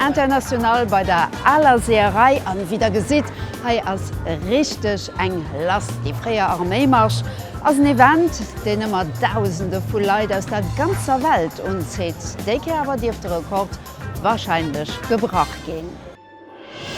International bei der aler Seeërei an wéi der gesitt hei ass richteg eng lass. Déi fréier Arméimarsch ass en Event deen ëmmer dausende vu Leit aus der ganzer Welt unzitt. Déi Kéier awer dierft de Rekord wahrscheinlech gebrach ginn.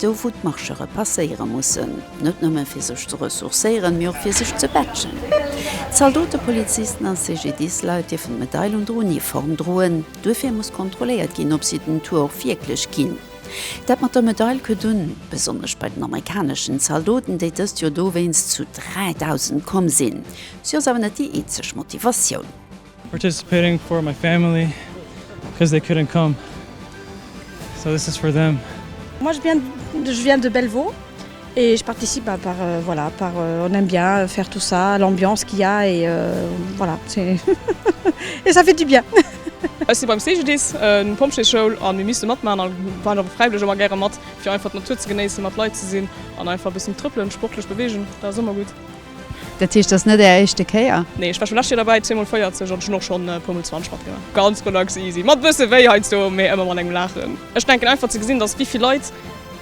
Do wou d'Marchere passéiere mussen, net nëmme fir sech ze ressourcéieren, mee och fir sech ze batschen. Zaldote, Polizisten a CGDIS-Leit dierfen d'Medail un der Uniform droen. Duerfir muss kontrolléiert ginn, ob si den Tour och wierklech ginn. Dat mat der Medail kënnt un, besonnesch bei den amerikaneschen Zaldoten, déi dëst Joer dowéinst zu 3.000 komm sinn. Si ass awer net déi eenzeg Motivatioun. Participating for my family because they couldn't come so this is for them. Moi je viens je viens de Bellevaux et je participe à par voilà par on aime bien faire tout ça l'ambiance qu'il ya et voilà c'est et ça fait du bien. Ech si beim CGDIS, eng Pompjeesschoul, a mir misste matmaachen a waren och fräiwëlleg ëmmer gäre mat, fir einfach d'Natur ze genéissen, mat Leit ze sinn an einfach e bëssen trëppelen, sportlech beweegen. Dat ass ëmmer gutt. Dat heescht, et ass net Är éischte Kéier? Nee, ech war scho lescht Joer derbäi, zweemol 40 an ech hunn och schonn e puermol 20 matgemaach. Ganz relax, easy, mat e bësse wéi heiansdo, mee ëmmer mat engem Laachen. Ech denken einfach ze gesinn, dass wéi vill Leit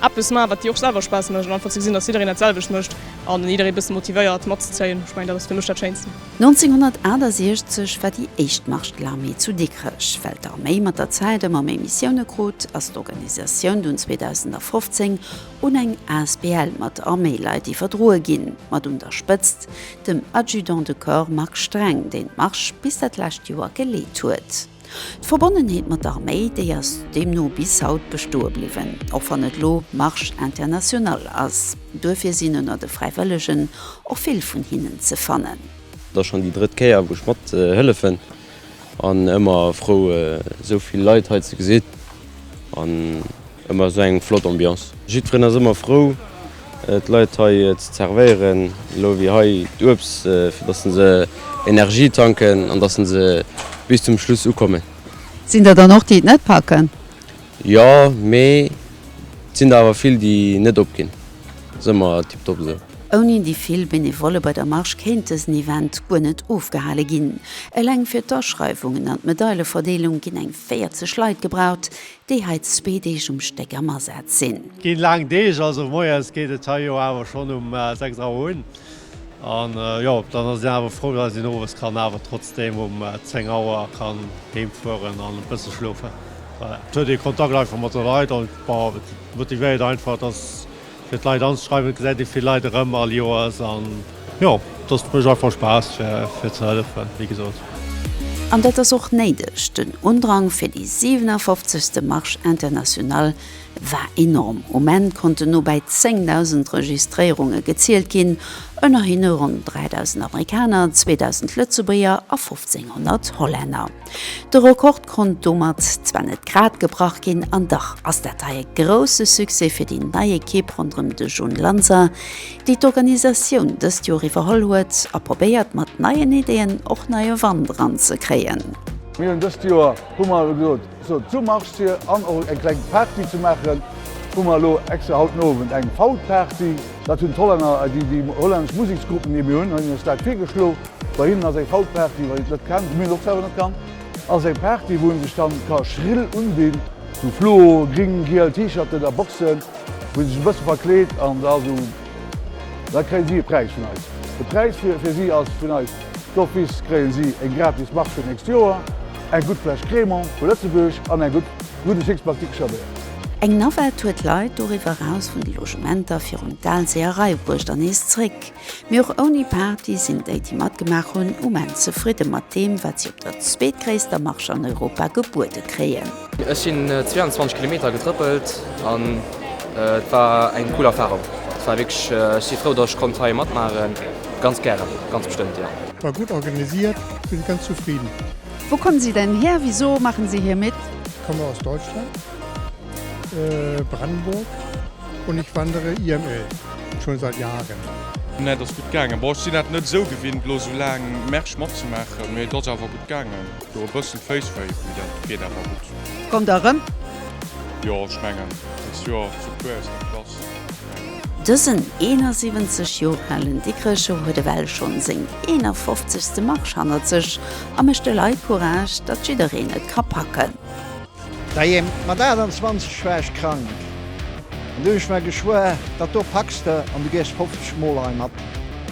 eppes maachen, wat dir och selwer Spaass mécht an einfach ze gesinn, dass jiddereen dat selwecht mécht an en jidderee bësse motivéiert matzezéien, ech mengen dat ass fir mech dat Schéinsten. 1968 war déi éischt Marche de l'Armée zu Dikrech. Well d'Arméi mat der Zäit ëmmer méi Missioune krut, ass d'Organisatioun dunn 2015 un eng Asbl mat Arméileit iwwerdroe ginn, mat un der Spëtzt dem Adjudant de Corps Marc Streng, deen d'Marche bis dat lescht Joer geleet huet. D'Verbonnenheet mat der Arméi, déi ass deemno bis haut bestoe bliwwen, och wann et elo Marche Internationale ass. Duerfir sinn ënner de Fräiwëllegen och vill vun hinnen ze fannen. Et ass schonn déi drëtt Kéier, wou ech mathëllefen. An ëmmer frou esou vill Leit hei ze gesinn an ëmmer esou eng flott Ambiance. Jiddferen ass ëmmer frou d'Leit hei ze zervéieren. Elo wier hei d'Uebs fir dass se Energie tanken an dass se bis zum Schluss ukommen. Sinn der dann och déi et net packen? Jo, mee et sinn der awer vill déi net opginn. Ass ëmmer tiptop esou. Ouni déi vill Benevolle bei der Marche kéint dësen Event guer net ofgehale ginn. Eleng fir d'Aschreiwungen an d'Medaileverdeelung ginn eng 40 Leit gebraucht, déi hei zwee Deeg um Stéck am Asaz sinn. Ginn laang Deeg, also moies geet et hei jo awer schonn um 6 Auer un. An jo, dann ass een awer frou, dass een owes kann awer trotzdem um 10 Auer kann heem fueren an e bësse schlofen. Et huet ee Kontakt einfach mat de Leit an et motivéiert einfach, dass fir d'Leit anzeschreiwen. Et gesäit ee vill Leit erëm all Joers an jo, dass mécht einfach Spaass fir ze hëllefen, wéi gesot. An dat ass och néideg. Den Undrang fir déi 57. Marche internationale war enorm. Um Enn konnten no bäi 10.000 Registréierunge gezielt ginn, ënner hinne ronn 3.000 Amerikaner, 2.000 Lëtzebuerger a 1.500 Hollänner. De Rekord konnt domat zwar net grad gebrach ginn, an dach ass dat hei e grousse Succès fir déi nei Ekipp ronderëm de Jhun Lanser, déi d'Organisatioun dëst Joer iwwerholl huet a probéiert mat neien Ideeën och neie Wand eran ze kréien. Mir hunn dëst Joer, hu mer elo gesot, Sot zu Marsch Sir an och eng kleng Party ze maachen. Hu mer elo extra haut den Owend eng Faut Party. Dat hunn d'Hollänner, déi déi hollännesch Museksgruppen, déi mir hunn, hunn ons dat virgeschlo. Bei hinnen ass eng Faut Party, wann een et net kennt, wou mir et och selwer net kann, ass eng Party wou een sech dann ka schrill undinn, sou fluo, gring, giel T-Shirten a Boxen, wou een sech e bësse verkleet an da sou. Da kréien si e Präis vun eis. De Präis fir si ass, vun eis d'office kréien si eng gratis Mark fir d'nächst Joer, eng gutt Fläsch Crémant vu Lëtzebuerg an eng gutt Gudde Six Pack Dikrcher Béier. Eng Navette huet d'Leit doriwwer eraus vun de Logementer virum Daalsee eraibruecht an nees zréck. Mee och ouni Party sinn déi, déi matgemaach hunn, um Enn zefridde mat deem, wat si op der zweetgréisster Marche an Europa gebuede kréien. Ech sinn 22 Kilometer getrëppelt an et war eng cool Erfarung. Et war wierklech, ech si frou, datt ech konnt hei matmaachen. Ganz gären, ganz bestëmmt jo. War gutt organisiert, sinn ganz zufridden. Wou kommen si denn hir? Wisou machen si hir mit? Komme aus Deutschland, Brandenburg und ich wandere IML schon seit Jahren. Nä, et ass gutt gaangen. Bon, ech sinn dat net esou gewinnt, elo esou laang Märsch matzemaachen, mee et ass awer gutt gaangen. Do e bëssen d'Féiss wéi, mee dat geet awer gutt. Kommt der rëm? Jo, ech mengen dest Joer zu puer aus der Klass. Dësen 71 Joer alen Dikrecher huet ewell schonn seng 51. Marche hannert sech a mécht de Leit Courage, datt jiddereen et ka packen. Dajee mat 28 war ech krank an du hun ech mer geschwuer, dat do packs de an du gees 50 mol hei mat.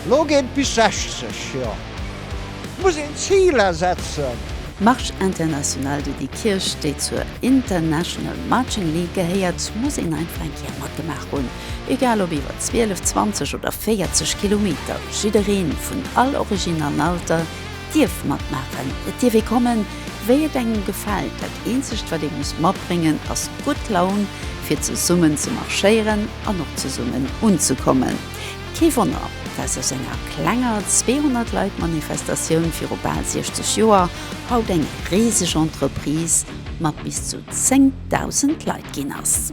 Lo geet et bis 60, jo et muss een Ziler setzen. Marche Internationale de Déi Kierch déi zur International Marching League gehéiert muss een einfach eng Kéier matgemaach hunn. Egal ob iwwer 12, 20 oder 40 Kilometer, jiddereen vun all Originn an Alter, dierf matmaachen. Et dierf ee kommen, wéi et engem gefält. Dat eenzegt, wat ee muss matbréngen, ass gutt Laun, fir zesummen ze marschéieren an och zesummen unzekommen. Kee Wonner, dass aus enger klenger 200 Leit Manifestatioun viru bal 60 Joer haut eng riseg Entreprise mat bis zu 10.000 Leit ginn ass.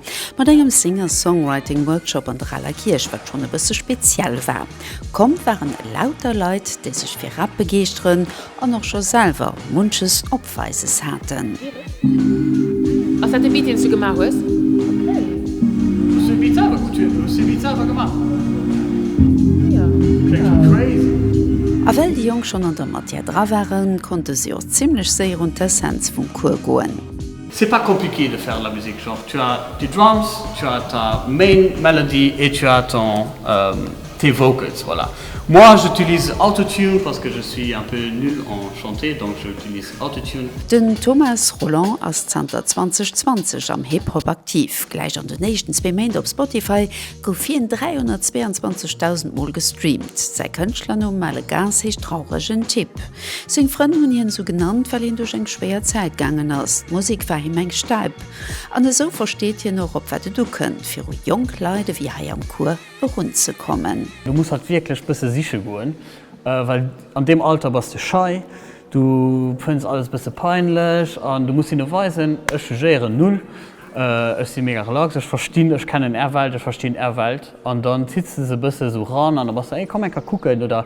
Mat engem Singer-Songwriting Workshop an der Raler Kierch, wat schonn e bësse speziell war. Komm waren lauter Leit, déi sech fir Rap begeeschteren an och scho selwer munches op Weises haten. A well déi Jonk schonn an der Matière dra waren, konnte si och zimmlech séier un d'Essenz vum Cours goen. C'est pas compliqué de faire de la musique, genre tu as tes drums, tu as ta main melody et tu as ton tes vocals voilà. Moi j'utilise autotune parce que je suis un peu nul en chanter donc je utilise autotune. Den Thomas Rolland ass zanter 2020 am Hip Hop aktiv. Gläich an den éischten zwee Méint op Spotify gouf hien 322.000 mol gestreamt. Säi Kënschtlernumm Malegas heescht trauregen Typ. Seng Frënn hunn hien esou genannt, well hien duerch eng schwéier Zäit gaangen ass. D'Musek war him eng Stäip. An esou versteet hien och, op wat et ukënnt, fir u jonk Leit ewéi hei am Cours erunzekommen. Du muss halt wierklech bësse siche goen, well an deem Alter bass de schei, du fënns alles bësse peinlech an du muss hinne weisen, ech jugéieren null, ech si mega relax, ech verstinn, ech kennen är Welt, ech verstinn är Welt. An dann zitt s de se bësse esou ran an da bass de, ey komm eng Kéier kucken oder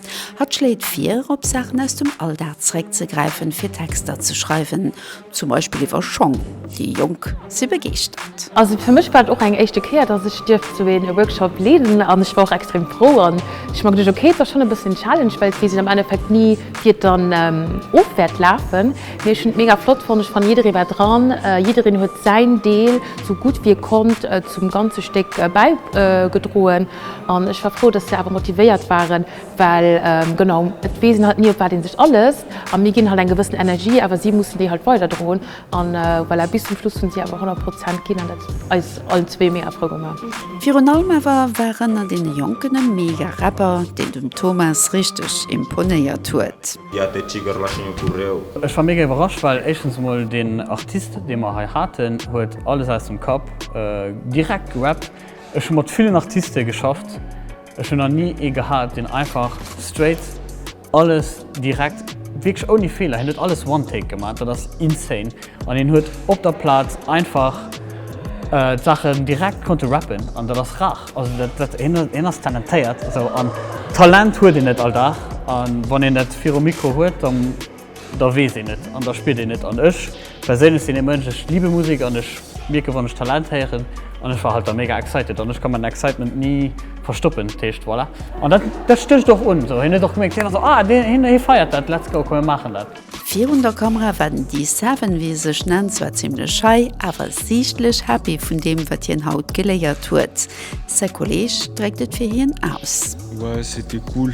Hatt schléit vir, op Saachen aus dem Alldag zeréckzegräifen, fir Texter ze schreiwen, zum Beispill iwwer Schong. Déi Jonk si begeeschtert. Also fir mech war et och eng éischte Kéier, dass ech dierft sou een Workshop leeden an ech war och extrem frou an ech mer geduecht, okay, et ass schonn e bëssen en Challenge, well et weess een am Endeffekt ni wéi et dann of wäert lafen, mee ech hunn et mega flott fonnt, ech fannen jidderee war dran, jiddereen huet säin Deel sou gutt wéi e konnt zum ganze Stéck bäigedroen. An ech war frou, dass se awer motivéiert waren, well genau, et weess een halt ni op wat ee sech alësst. A mir ginn halt eng gewëssen Energie, awer si mussen déi halt weiderdroen. An voilà, bis zum Schluss hunn si awer 100 Prozent ginn an dat huet eis allen zwee mega frou gemaach. Virun allem awer war ënner deene Jonken e mega Rapper, deen dem Thomas richteg imponéiert huet. Ech war mega iwwerrascht, well éischtens emol deen Artist, dee mer hei haten, huet alles aus dem Kapp direkt gerappt. Ech hu mat villen Artiste geschafft, ech hunn nach ni ee gehat, deen einfach straight alles direkt, wierklech ouni Feeler, hien huet alles one take gemaat, dat ass insane an hien huet op der Plaz einfach d'Saachen direkt konnte rappen an dat ass rar, also dat, hien ass talentéiert esou an Talent huet een et all Dag an wann een et virum Mikro huet dann. da weess een et an da spiert een et. An ech perséinlech sinn ee Mënsch, ech liebe Musek an ech mierken, wann ech Talent héieren an ech war halt da mega excited an ech ka mäin Excitement ni verstoppen. Dat heescht, voilà. An dat, dat stécht och un esou. Hien huet och geméckt, hien ass esou, ah, deen, hien, hie feiert dat, let's go, komm mir maachen dat. Virun der Kamera war den D-Seven, wéi e sech nennt, zwar zimmlech schei, awer siichtlech happy vun deem, wat hien haut geléiert huet. Säi Kolleeg dréckt et fir hien aus. Ouais, c'était cool.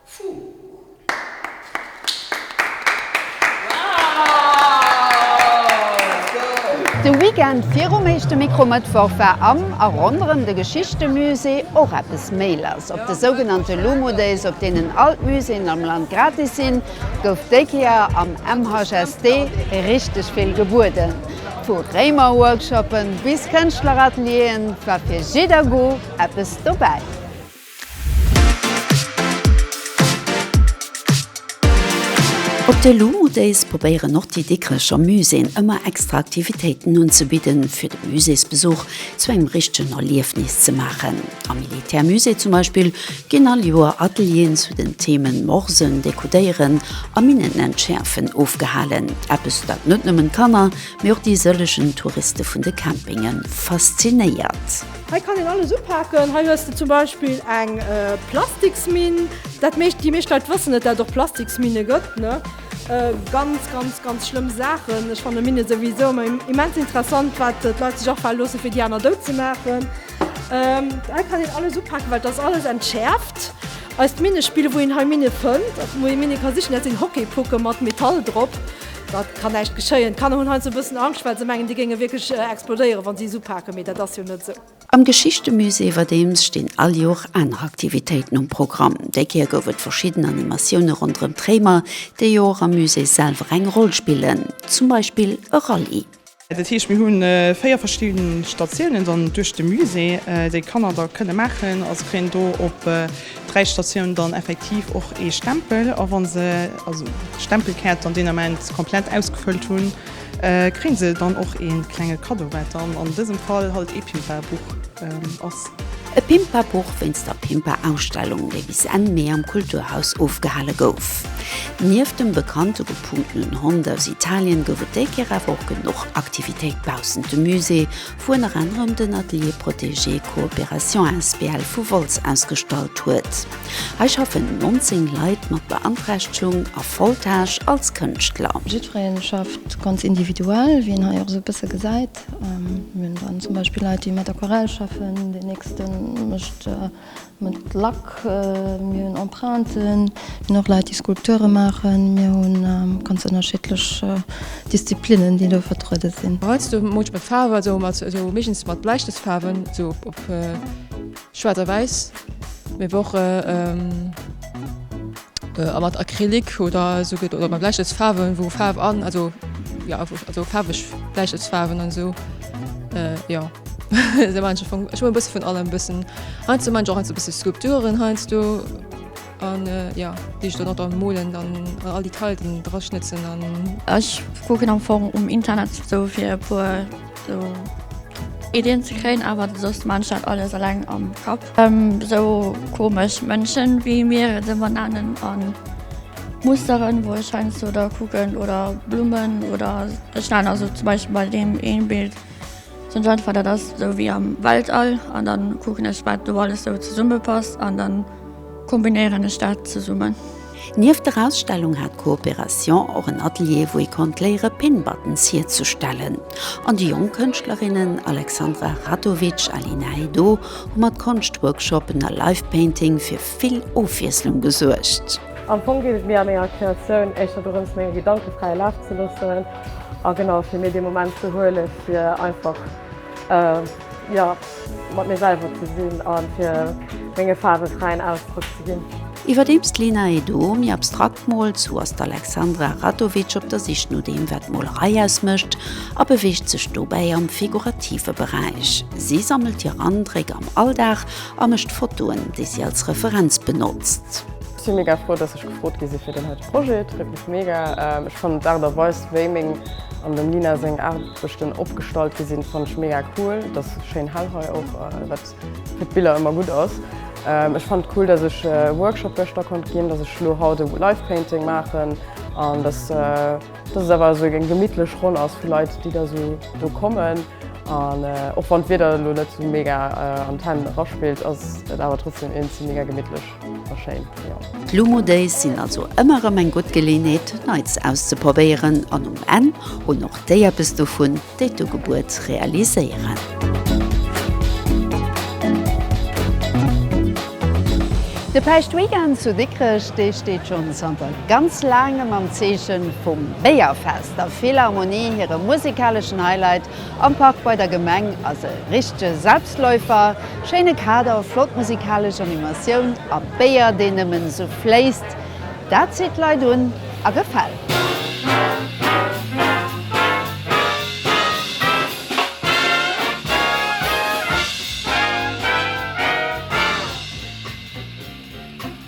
De Weekend virum éischte Mikro-Mëttwoch war am a ronderëm de Geschichtemusée och eppes méi lass. Op de sougenannte Lumo-Days, op deenen all d'Muséeën am Land gratis sinn, gouf déi Kéier am MHST richteg vill gebueden. Vu Réimer-Workshoppen bis Kënschtler-Atelieren war fir jidder Goût eppes dobäi. Op de Lulu Days probéieren och déi Dikrecher Muséeën ëmmer extra Aktivitéiten unzebidden, fir de Muséesbesuch zu engem richtegen Erliefnis ze maachen. Am Militärmusée zum Beispill ginn all Joer Atelieren zu den Themen Morsen, Dekodéieren a Minnenentschäerfen ofgehalen, eppes dat net nëmmen d'Kanner, mee och déi sëllegen Touriste vun de Campinge faszinéiert. Hei kann een alles upaken. Hei hues de zum Beispill eng Plastiksminn. Dat meescht, déi meescht Leit wëssen net, dat et och Plastiksminne gëtt, ne? Ganz, ganz, ganz schlëmm Saachen. Ech fanne Minne souwisou ëmmer immens interessant, wat d'Leit sech afale loosse fir déi aner dout ze maachen. Hei kann een alles upaken, well et ass alles entschäerft. Eist Minnespill, wou een hei Minne fënnt, wou ee Minne ka sichen, dat sinn Hockeypucke mat Metall drop. Dat kann näischt geschéien. D'Kanner hunn heiansdo e bëssen Angscht, well se mengen, déi géinge wierklech explodéieren, wa si es upaken. Mee dat ass jo net esou. Am Geschichtemusée iwwerdeems stinn all Jor aner Aktivitéiten um Programm. Déi Kéier gouf et verschidden Animatioune ronderëm d'Réimer, déi jo och am Musée selwer eng Roll spillen, zum Beispill e Rallye. Dat heescht mir hunn 4 verschidden Statiounen dann duerch de Musée déi d'Kanner da kënne maachen. A se kréien do op 3 Statiounen dann effektiv och ee Stempel. A wann se also d'Stempelkaart an deen Ament komplett ausgefëllt hunn, kréien se dann och ee klenge Kaddo wat dann an dësem Fall halt ee Pimpa-Buch ass. E Pimpa-Buch wéinst der Pimpa-Ausstellung, déi bis Enn Mee am Kulturhaus ofgehale gouf. Nieft dem bekannte gepunkenen Hond aus Italien gouf et déi Kéier awer och genuch Aktivitéit baussent dem Musée, wou ënner anerem den Atelier Protégé Coopération asbl vu Wolz ausgestallt huet. Hei schaffen 19 Leit mat Beanträchtegung a Voltage als Kënschtler. Jiddweree schafft ganz individuell, wéi een hei och esou e bësse gesäit. Mir hunn dann zum Beispill Leit, déi mat Aquarell schaffen, deen nächste mécht mat Lack, mir hunn Emprunten, mir hunn och Leit, déi Skulpture maachen, mir hu ganz ënnerschiddlech Disziplinnen, déi do vertruede sinn. Heiansdo hu mer och mat Faarf, also mat esou meeschtens mat Bläistëftfaarwen, esou op schwaarz a wäiss, mee awer och. A mat Acrylic oder esou gëtt oder mat Bläischëtzfaarwen, wou Faarf an also jo also faarweg Bläischëtzfaarwen an esou jo. Esou maachen ech am Fong, ech hu e bësse vun allem e bëssen. Heiansdo maachen ech och heiansdo e bësse Skulpturen heiansdo an jo, déi ech dann och dann molen dann an all déi Kailten dra schnëtzen an. Ech kucken am Fong um Internet esou fir e puer esou Iddien ze kréien, awer soss maachen ech dat alles eleng am Kapp. Sou komesch Mënschen wéi mir et ëmmer nennen an Musteren wou ech heiansdo da kucken oder Blummen oder ech waren also zum Beispiel bei deem een Bild sou eng Art dat ass sou wéi am Weltall an dann kucken ech wat do alles sou zesumme passt an dann kombinéieren ech dat zesummen. Nieft der Ausstellung hat d'Coopération och en Atelier, wou ee konnt léiere Pinbuttons hierzustellen. An déi jonk Kënschtlerinnen Alexandra Ratovic a Lina Heydo hu mat Konschtworkshoppen a Live-Painting fir vill Ofwiesslung gesuergt. Am Fong geet et mir a menger Kreatioun éischter dorëms, menge Gedanke fräie Laf ze loossen a genau fir mir dee Moment ze huele fir einfach. Jo, mat mir selwer ze sinn a fir menge Faarwe fräien Ausdrock ze ginn. Iwwerdeems d'Lena Edo méi abstrakt moolt, sou ass d'Alexandra Radovic op der Sich no deem, wat d'Molerei ausmécht a beweegt sech dobäi am figurative Beräich. Si sammelt hir Andréck am Alldag a mécht Fotoen, déi si als Referenz benotzt. Ech si mega frou, dass ech gefrot gi si fir deen heite Projet. Et freet mech mega. Ech fannen d'Aart a Weis, wéi meng an dem Lena seng Aart Sech den opgestallt gesinn fannt ech mega cool, et ass schéin hell hei och wat fir d'Biller emmer gutt ass. Ech fannt cool dass ech e Workshop geschter konnt ginn, dass ech lo haut e Live Painting maachen an dass dass et awer esou eng gemittlech Ronn ass vu Leit déi da esou do kommen an och wann d'Wieder lo net esou mega an d'Hänn era spillt ass et awer trotzdem eenzel mega gemittlech. D'Lumo Days sinn also ëmmer erëm eng gutt Geleeënheet, Neits auszeprobéieren an um Enn hunn och déi eppes dovun, déi d'Ugebuert realiséieren. De Päischtweekend zu Dikrech, dee steet schonn zanter ganz Laangem am Zeeche vum Béierfest. Der Philharmonie hire musekaleschen Highlight Am Park bei der Gemeng ass e richtege Selbstläufer, schéine Kader, flott musikalesch Animatioun a Béier deen nëmmen esou fléisst, dat zitt d'Leit un a gefält.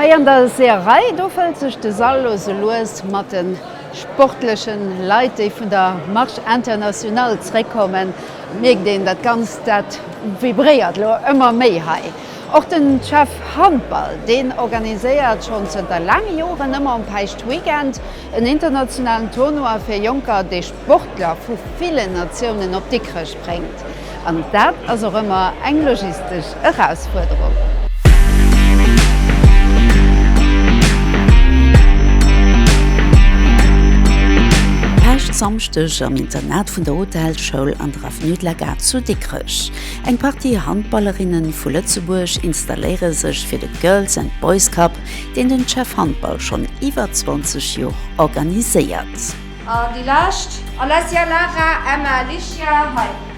Hei an der Seeërei, do fëllt sech de Sall lo sou lues mat de sportlechen Leit, déi vun der Marche Internationale zréckkommen. Et mierkt een, dat Ganzt, dat vibréiert lo ëmmer méi hei. Och de Chef Handball, deen organiséiert schonn zënter laange Joren ëmmer um Päischtweekend en internationalen Tournoi fir Jonker, dee Sportler vu villen Natiounen op Dikrech bréngt. An dat ass och ëmmer eng logistesch Erausfuerderung. Päschtsamschdeg am Internat vun der Hotelschoul an der Avenue de la Gare zu Dikrech. Eng Partie Handballerinne vu Lëtzebuerg installéiere sech fir de Girls and Boys Cup, deen den Chef Handball schonn iwwer 20 Joer organiséiert. An déi lescht. Alessia, Lara, Emma, Alicia, Heidi.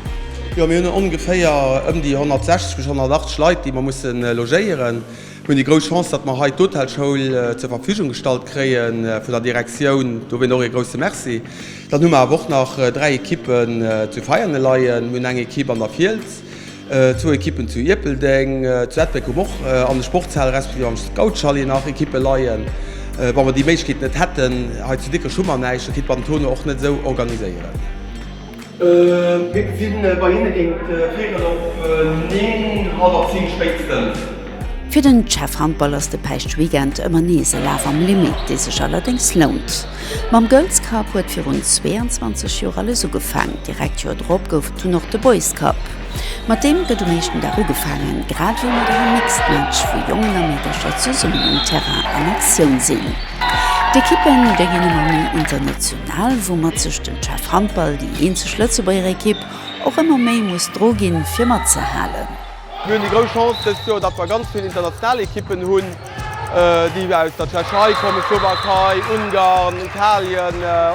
Jo, mir hunn ongeféier ëm déi 160 bis 180 Leit, déi mer musse logéieren. Mir hunn déi grouss Chance, datt mer hei d'Hotelschoul zur Verfügung gestallt kréie vun der Direktioun. Dowéint och ee grousse Merci. Dann hu mer awer och nach dräi Equippen zu Veianen leien. Mir hunn eng Equipe an der Fiels. Zwou Ekippen zu Ierpeldeng, zu Ettlbréck hunn och an de Sportshal respektiv am Scoutschalet nach Ekippe leien. Wa mer déi Méiglechkeet net hätten, hei zu Dikrech hu mer näischt, da kéint mer den Tournoi och net esou organiséieren. Mir sinn bei hinne géint Féierel op Neen, hallwer Zéng spéitstens. Fir den Jeff Handball ass de Päischt-Weekend ëmmer nees e Laf am Limit, dee sech allerdéngs lount. Mam Girls Cup huet virun 22 Joer alles ugefaang. Direkt d'Joer drop gouf et dunn och de Boys Cup. Mat deem gëtt um éischten Dag ugefaangen, grad wéi mat engem Mixed Match, wou Jongen a Meedercher zesummen um Terrain an Aktioun sinn. D'Ekippe géi ginn ëmmer méi international, woumat sech den Chef Handball, déi eenzeg Lëtzebuerger Ekipp, och ëmmer méi muss dru ginn, fir matzehalen. Mir hunn déi grouss Chance dëst Joer, datt mer ganz vill international Ekippen hunn. déi aus der Tschechei kommen, Slowakei, Ungarn, Italien,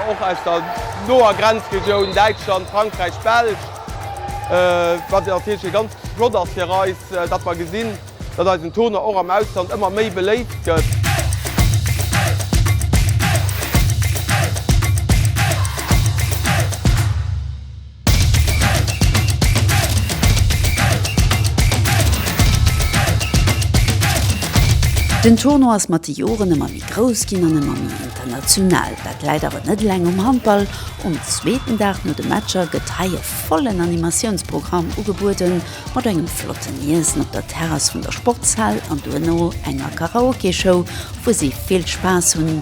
och aus der noer Grenzregioun Däitschland, Frankräich, Belsch, wat natierlech ganz flott ass fir eis, datt mer gesinn, datt eisen Turner och am Ausland ëmmer méi beléift gëtt. Den Tournoi ass mat de Joren ëmmer méi grouss ginn an ëmmer méi international. Dat läit awer net eleng um Handball. Um zweeten Dag no de Matcher gëtt hei e vollen Animatiounsprogramm ugebueden, mat engem flotten Iessen op der Terrass vun der Sportshal an duerno enger Karaoke-Show, wou si vill Spaass hunn.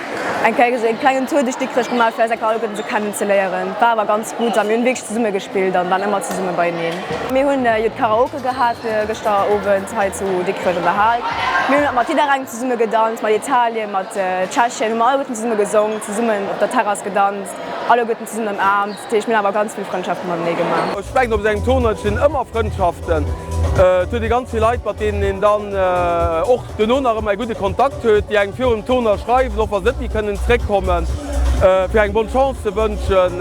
Eng Kéier esou een klengen Tour duerch Dikrech gemaach fir eis ecker alleguerten esou kennen ze léieren. War awer ganz gutt a mir hunn wierklech zesumme gespillt an waren ëmmer zesumme beieneen. Mir hunn jo d'Karaoke gehat gëschter Owend hei zu Dikrech an der Hal. Mir hunn mat jidderengem zesumme gedanzt, mat Italien, mat Tschechien hu mer alleguerten zesumme gesong, zesummen op der Terrass gedanzt, alleguerten zesummen ëmaarmt. Dat heescht, mir hunn awer ganz vill Frëndschafte matenee gemaach. Ech mengen, op esou engem Tournoi entstinn ëmmer Frëndschaften. Et huet ee ganz vill Leit, mat deenen een dann och duerno nach ëmmer ee gudde Kontakt huet, déi engem virum Tournoi schreiwen, och wa se net méi kënnen zréckkommen, fir engem Bonne Chance ze wënschen,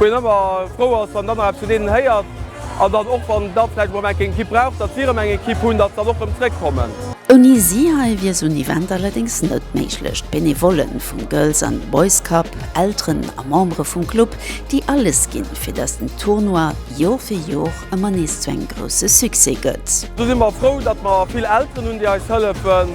wou een ëmmer frou ass, wann een dann nach eppes vun deenen héiert an dann och, wann da vläicht emol eng Ekipp brauch, datt si erëm eng Ekipp hunn, datt se dann och erëm zréckkommen. Ouni si hei wier esou en Event allerdéngs net méiglech. D'Benevollen vum Girls an Boys Cup Elteren a Membere vum Club, déi alles ginn, fir datt den Tournoi Jor fir Jor ëmmer nees zu engem grousse Succès gëtt. Do si mer frou, datt mer vill Elteren hunn, déi eis hëllefen,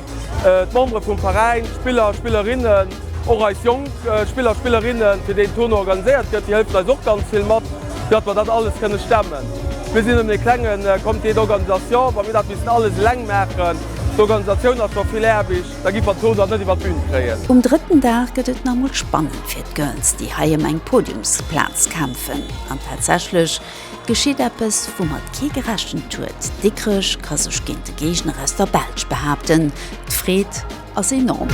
d'Membere vum Veräin, d'Spiller, Spillerinnen, och eis jonk Spiller, Spillerinnen, fir déi den Tournoi organiséiert gëtt, déi hëllefen eis och ganz vill mat, fir datt mer dat alles kënne stemmen. Mir sinn nëmmen e klenge Comité d'organisation, wa mir dat missten alles eleng maachen. D'Organisatioun ass scho vill Aarbecht. Da giff mer d'Zone dat net iwwert d'Bühn kréien. Um drëtten Dag gëtt et nach mol spannend fir d'Girls, déi hei em eng Podiumsplaz kämpfen. An tatsächlech geschitt eppes, woumat kee gerechent huet, Dikrech ka sech géint de Géigner aus der Belsch behaapten. D'Freed ass enorm.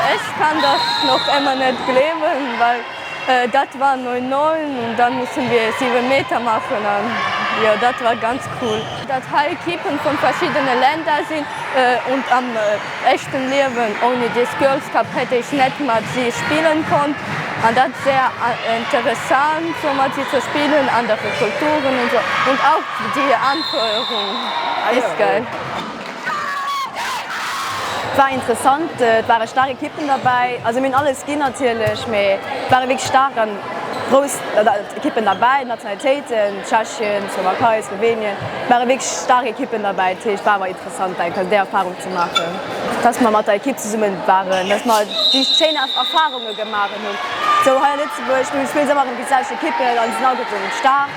Ech kann dat nach ëmmer net gleewen. Dat war neun Nollen an dann mussen wir sieben Meter machen an jo dat war ganz cool. Datt hei Equipen vun verschiddenen Länder sinn und am echten Liewen ouni des Girls Cup hätt ech net mat si spillen konnt an datt wär interessant sou mat si ze spillen, andere Kulturen und so und auch die Anfeuerung ist geil. War interessant, et ware staark Ekippen derbäi, also mir hunn alles ginn natierlech, mee et ware wierklech staark a grouss Ekippen derbäi, Nationalitéiten, Tschechien, Slowakei, Slowenien, et ware wierklech staark Ekippen derbäi. Dat heescht, war awer interessant eng Kéier déi Erfarung ze maachen, dass mer mat der Ekipp zesumme waren, dass mer déi schéin Erfarunge gemaach hunn. Esou hei a Lëtzebuerg, wéi ech vill soe, mach ëm déi selwecht Ekippen an se sinn alleguerten staark.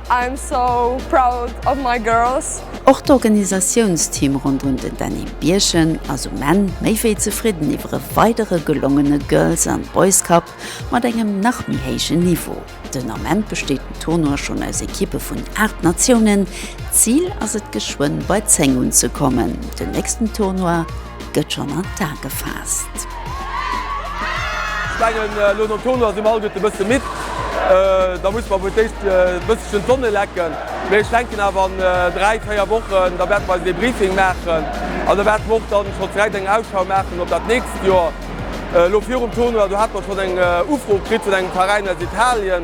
I am so proud of my girls. Och d'Organisatiounsteam ronderëm den Dany Bierchen ass um Enn méi wéi zefridden iwwer e weidere gelongene Girls and Boys Cup mat engem nach méi héijen Niveau. Den Ament besteet den Tournoi schonn aus Ekippe vun 8 Natiounen. D'Zil ass et geschwënn bei 10 unzekommen. Den nächsten Tournoi. gëtt schonn an d'A gefaasst. Ech mengen elo nom Tournoi si mer alleguerte e bësse midd. Da musse mer wuel d'éischt e bësselchen d'Sonne lecken. Mee ech denken awer an dräi, véier Wochen, da wäerte mer eisen Debriefing maachen an da wäerte mer och dann schonn direkt eng Ausschau maachen op dat nächst Joer. Elo virum Tournoi, do hate mer schonn eng Ufro kritt vun engem Veräin aus Italien.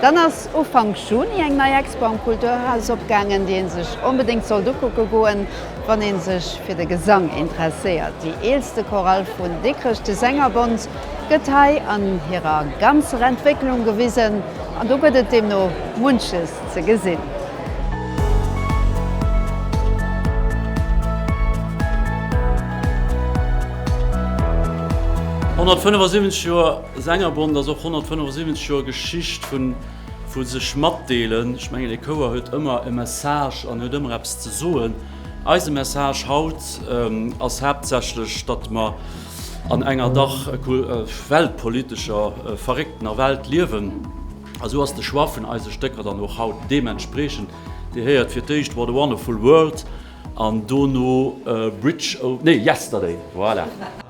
Dann ass Ufank Juni eng nei Expo am Kulturhaus opgaangen, déi ee sech onbedéngt sollt ukucke goen, wann ee sech fir de Gesang interesséiert. Déi eelste Chorale vun Dikrech, de Sängerbond, gëtt hei an hirer ganzer Entwécklung gewisen an do gëtt et deemno munches ze gesinn. Honnertfënnefensiwwenzeg Joer Sängerbond ass och 175 Joer Geschicht vun vun sech matdeelen. Ech mengen ee Chouer huet ëmmer e Message an huet ëmmer eppes ze soen. Eise Message haut ass haaptsächlech, datt mer an enger dach weltpolitescher verrécktener Welt liewen a esou ass de Choix vun eise Stécker dann och haut deementspreechend. Dir héiert fir d'éischt What a Wonderful World an dono Bridge, nee, Yesterday, voilà.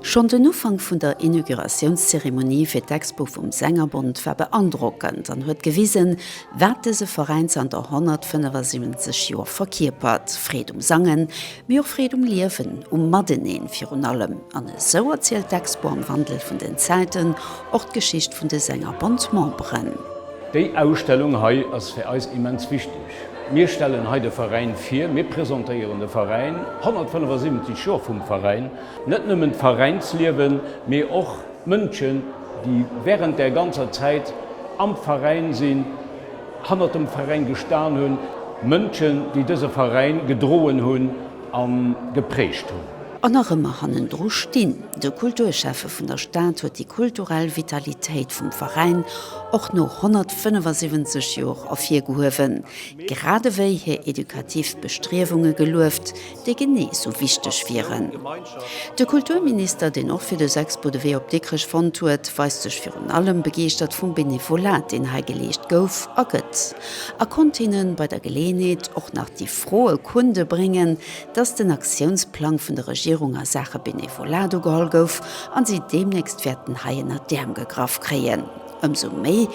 Schonn den Ufank vun der Inauguratiounszeremonie fir d'Expo vum Sängerbond war beandrockend an huet gewisen, wat dëse Veräin zanter 175 Joer verkierpert, Freed um Sangen, mee och Freed um Liewen, um Mateneen virun allem. An esou erzielt d'Expo am Wandel vun den Zäiten och d'Geschicht vun de Sängerbond-Memberen. Déi Ausstellung hei ass fir eis immens wichteg. Mir stellen hei de Veräin vir, mir presentéieren de Veräin, 175 Joer vum Veräin. Net nëmmen d'Veräinsliewen, mee och d'Mënschen, déi während där ganzer Zäit am Veräin sinn, hannert dem Veräin gestan hunn, Mënschen, déi dëse Veräin gedroen hunn a geprägt hunn. An nach ëmmer hannendru stinn. De Kulturschäffe vun der Stad huet déi kulturell Vitalitéit vum Veräin och no 175 Joer ervirgehuewen, gradewéi hir edukativ Bestriewunge gelueft, déi genee esou wichteg wieren. De Kulturminister, deen och fir de Sexpo de Wee op Dikrech fonnt huet, weist sech virun allem begeeschtert vum Benevolat, deen hei geleescht gouf a gëtt, a konnt hinnen bei der Geleeënheet och nach déi Fro e Kunde bréngen, datt den Aktiounsplang vun der Regierung a Saache Benevolat ugeholl gouf a si deemnächst wäerten hei ënner d'Äerm gegraff kréien, ëmsou méi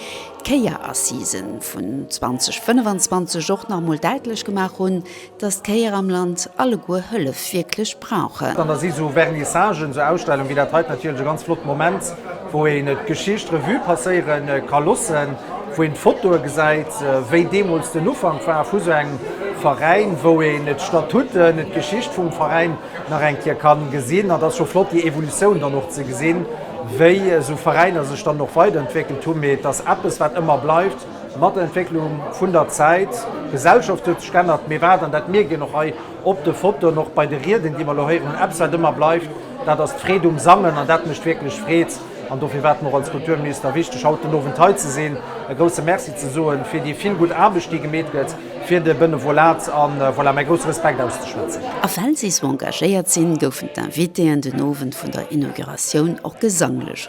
d'Kéierassisen vun 2025 och nach emol däitlech gemaach hunn, Dass d'Kéier am Land alleguer Hëllef wierklech brauchen. Da si esou Vernissagen, esou Ausstellungen wéi dat hei natierlech e ganz flotte Moment, wou een d'Geschicht Revue passéiere ka loossen, wou een d'Fotoe gesäit, wéi deemools den Ufank war vu esou engem Veräin, wou een d'Statuten, d'Geschicht vum Veräin nach eng Kéier ka gesinn. An et ass scho flott, déi Evolutioun dann och ze gesinn, wéi esou Veräiner sech dann och weiderentwéckelt hunn. Mee et ass eppes, wat ëmmer bleift. Mat der Entwécklung vun der Zäit, d'Gesellschaft huet sech geännert, mee wat, an dat mierkt een och hei op de Fotoen, och bei de Rieden, déi mer elo héieren hunn, eppes, wat ëmmer bleift, dat ass d'Freed um Sangen. An dat mécht wierklech Freed. An dofir war et mer och als Kulturminister wichteg, haut den Owend hei ze sinn, e grouse Merci ze soe fir déi vill gutt Aarbecht, déi gemeet gëtt fir de Benevolat. A voilà, mäi grousse Respekt auszeschwätzen. A well si esou engagéiert sinn, goufen d'Invitéen den Owend vun der Inauguratioun och gesanglech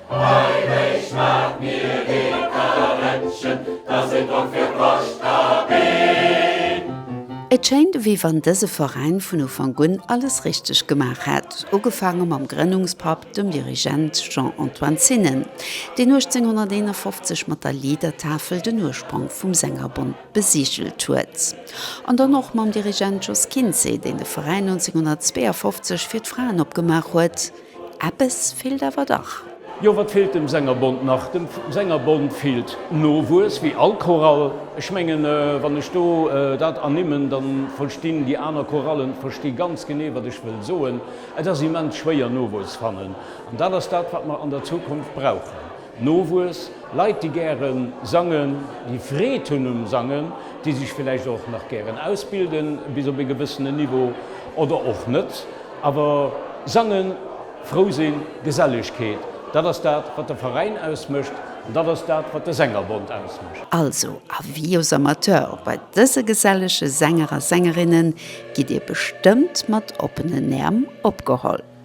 Heimech maach mir ee Karrettchen, dass een drop fir d'Bascht ka ginn. Et schéint wéi wann dëse Veräin vun Ufank un alles richteg gemaach hätt, ugefaange mam Grënnungspapp, dem Dirigent Jean-Antoine Zinnen, deen 1851 mat der Liedertafel den Urspronk vum Sängerbond besigelt huet, an dann och mam Dirigent Jos Kinzé, deen de Veräin 1952 fir d'Fraen opgemaach huet. Eppes feelt awer dach. Jo, wat feelt dem Sängerbond nach? Dem Sängerbond feelt Nowuess, wéi all Chorale. Ech mengen, wann ech do dat ernimmen, da verstinn déi aner Chorallen versti ganz genee, wat ech wëll soen. Et ass immens schwéier, Nowuess fannen. An dat ass dat, wat mer an der Zukunft brauchen. Nowuess, Leit déi gären sangen, déi Freed hunn um Sangen, déi sech villäicht och nach gären ausbilden bis op ee gewëssenen Niveau oder och net, awer sangen, frou sinn, Gesellegkeet, dat ass dat wat de Veräin ausmécht an dat ass dat wat de Sängerbond ausmécht. Also Avis aux amateurs, bei dëse gesellege Sänger a Sängerinnen gitt Dir bestëmmt mat oppenen Äerm opgeholl.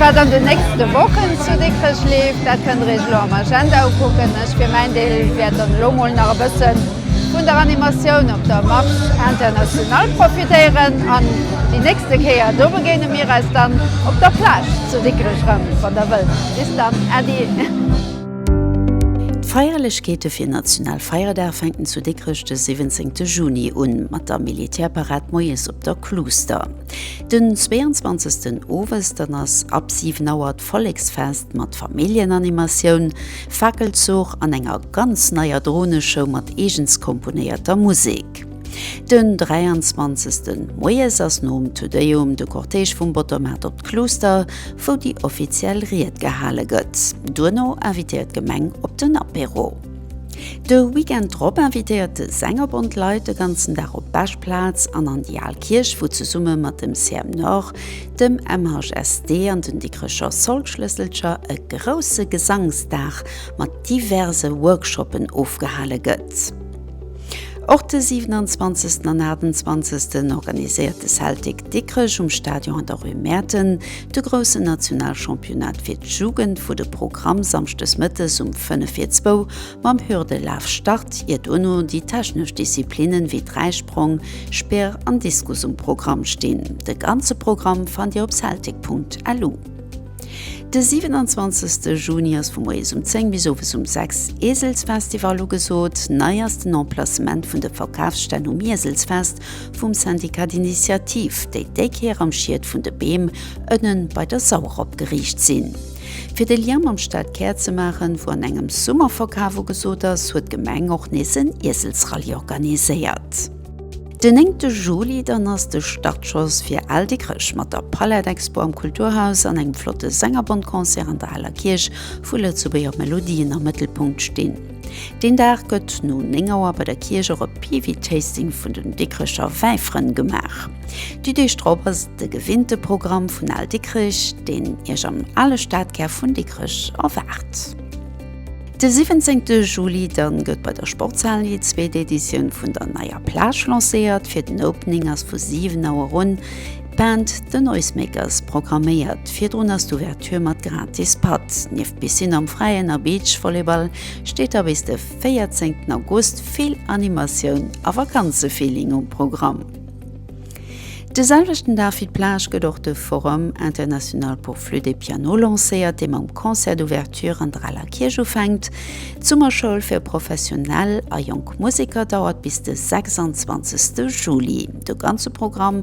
Wat an den nächste Wochen zu Dikrech leeft, dat kënnt der Iech elo am Agenda ukucken. Ech fir mäin Deel wäert dann elo mol nach e bëssen. Vun der Animatioun op der Marche Internationale profitéieren an déi nächste Kéier do begéine mir eis dann op der Plage zu Dikrech erëm. Wann der wëllt. Bis dann Äddi. D'Feierlechkeete fir National Feierdag fänken zu Dikrech de 17 Juni un, mat der Militärparad moies op der Kluuster. Den 22 Owes dann ass ab 7 Auer Volleksfest mat Familljenanimatioun, Fakelzuch an enger ganz neier Droneshow mat eegens komponéierter Musek. Den 23 Moies ass nom Te Deum de Cortège vum Bottermaart op d'Kluuster, wou déi offiziell Ried gehale gëtt. Duerno invitéiert d'Gemeng op den Apéro. De Weekend drop invitéiert de Sängerbond d'Leit de ganzen Dag op d'Beschplaz an an déi al Kierch, wou zesumme mat dem CM Nord dem MHSD an den Dikrecher Solschlësselcher e grousse Gesangsdag mat diverse Workshoppen ofgehale gëtt. Och de 27 an 28 organiséiert de Celtic Dikrech um Stadion an der Rue Mäerten de groussen Nationalchampionnat fir d'Jugend, wou de Programm samschdes mëttes um fënnef vir zwou Mam Hürdelaf start ier dono déi technesch Disziplinnen wéi Dräisprong, Speer an Diskus um Programm stinn. De ganze Programm fannt dir op celtic.lu. De 27 Juni ass vu moies um 10 bis owes um 6 Ieselsfestival ugesot. Nei ass den Emplacement vun de Verkafsstänn um Ieselsfest vum Syndicat d'Initiative, déi déi Kéier am Schied vun de Beem ënnen bei der Sauer opgeriicht sinn. Fir de Lien mam Stadkär ze maachen, wou an engem Summerverkaf ugesot ass, huet d'Gemeng och nees en Ieselsrallye organiséiert. Den 9 te Juli dann ass de Startschoss fir Al Dikrech mat der Palette Expo am Kulturhaus an engem flotte Sängerbond-Concert an der Aler Kierch, wou lëtzebuerger Melodien am Mëttelpunkt stinn. Deen Dag gëtt no 9 Auer bei der Kierch och e Piwi-Tasting vun den Dikricher Wäifrënn gemaach. Déi Deeg drop ass et de gewinnte Programm vun Al Dikrich, deen Iech am ale Stadkär vun Dikrech erwaart. De 17 Juli dann gëtt bei der Sportshal déi zweet Editioun vun der neier Plage lancéiert. Fir den Opening ass vu 7 Auer un D'Band The Noisemakers programméiert virdrun ass d'Ouverture mat gratis Patt. Nieft Piscine am Fräien a Beach Volleyball steet da bis de 14 August vill Animatioun a Vakanzefeeling um Programm. De selwechten Dag wéi d'Plage gëtt och de Forum International pour Flûte et Piano lancéiert, dee mam Concert d'Ouverture an der Aler Kierch ufänkt. D'Summerschoul fir professionell a jonk Museker dauert bis de 26 Juli. De ganze Programm